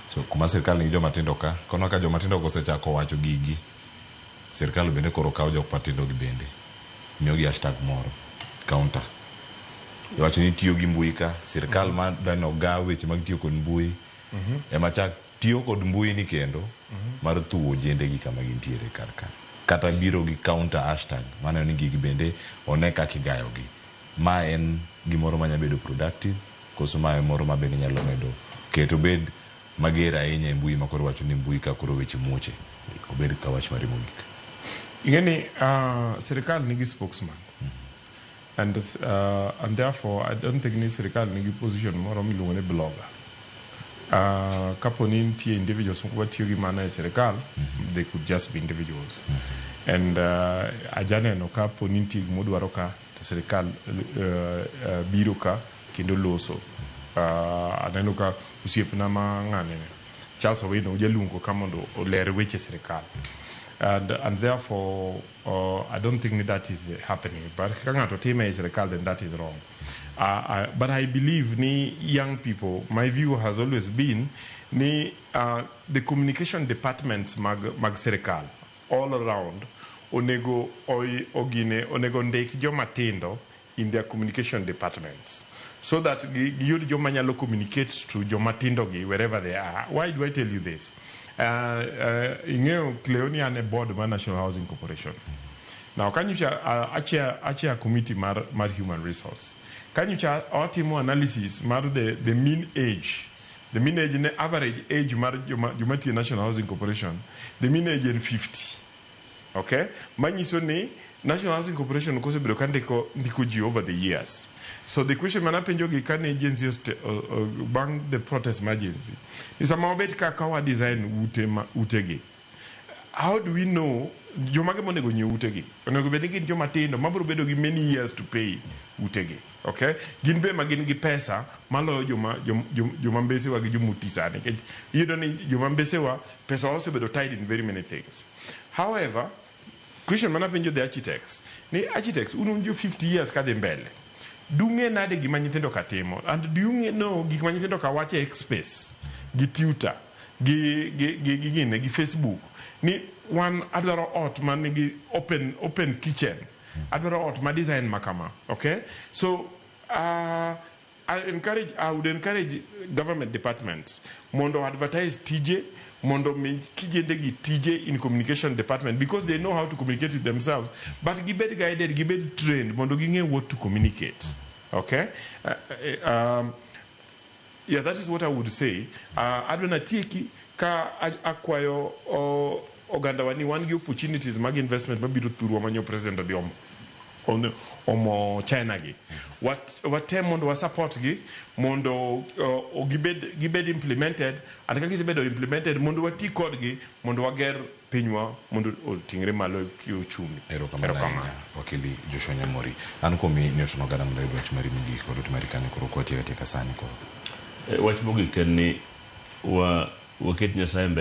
So kuma sirkal nigi joma tindo ka, koro ka joma tindo kosechako wacho gigi, sirkal bende koro kawo jok matindo gi bende miyogi hashtag moro, counter. Iwacho ni itiyo gi mbui ka, sirkal mm -hmm. ma dani ogaw weche mag tiyo kod mbui mm -hmm. ema chak tiyo kod mbui ni kendo mm -hmm. mar thuwo jende gi kama gintiere kar ka. Kata biro gi counter hashtag mano ni gigi bende one kaka igayogi. Ma en gimoro manya bedo productive Koso ma e moro ma bende inyalo medo keto obed mager ahinya e mbui ma koro iwacho ni mbui ka koro weche muoche obed ka wach mari mogik? Ing'e ni sirikal nigi spokesman and and therefore I don't think ni sirikal nigi position moro miluongo ni blogger. Kapo ni nitie individuals moko matiyo gi mano e sirikal, they could just be individuals and ajaneno kapo ni nitie gima odwaro ka To sirkal biro ka kendo loso. Aneno ka osiepna ma ng'ane ni, Charles Owino ujaluongo ka mondo oler weche sirkal. And, and therefore, uh, I don't think that is happening. But ka ng'ato time ei sirkal, then that is wrong. Uh, uh, but I believe ni young people, my view has always been ni uh, the communication departments mag, mag sirkal all around onego ogine onego ndik joma tindo in their communication departments so that gi giyud joma nyalo communicate to joma tindo gi wherever they are why do I tell you this uh, uh, ing'eyo Cleo ni an e board mar National Housing Corporation now kanyocha uh, achair achair committee mar mar human resource kanyocha watimo analysis mar the, the mean age The minage ne average age mar joma joma tiye National Housing Corporation the minage en 50 okay manyiso ni National Housing Corporation kosebedo ka ndiko ndiko ji over the years so the question mana penjo gi kane agency oste, o, o, bang the protest ma agency ni sama wabet ka ka wa design ute ma ute gi How do we know jomage monego nyiew utegi? Onego bed ni gin joma tindo mabiro bedo gi many years to pay utegi. Okay? Gin be ema gin gi pesa maloyo joma joma mbesewa gi joma oti sani. Nikech iyudo ni joma mbesewa pesawa osebedo tied in very many things. However, Question mana penjo the architects ni architects un un jo 50 years kadhi mbele dung'e nade gima nyithindo ka timo and do you nge- know gik ma nyithindo ka wacho e space gi tutor gi gi gi gi gine gi facebook ni wan adwaro ot man nigi open open kitchen adwaro ot ma design ma kama okay so uh, I encourage, I would encourage government departments mondo advertise tije mondo mi kijende gi tije in communication department because they know how to communicate with themselves but gibed guided gibed trained mondo ging'e what to communicate okay uh, uh, um, yeah that is what i would say uh, adwa natieki ka a- akwayo o- oganda wa ni wan gi opportunities mag investment mabiro thurwa manyo president odiomo omo China gi. Wat, watem mondo wa support gi mondo uh, gibed, gibed implemented and kaka gisebedo implemented mondo wati kodgi mondo wager pinywa mondo oting're malo e uchumi. Erokamano ahinya wakili Joshua Nyamori. An kuomi ni otono gana mondo ayud wach mari mogik kod ote mari kanyo koro kwatieka tieka sani koro. E, wach mogik en ni wa waket Nyasaye mbele.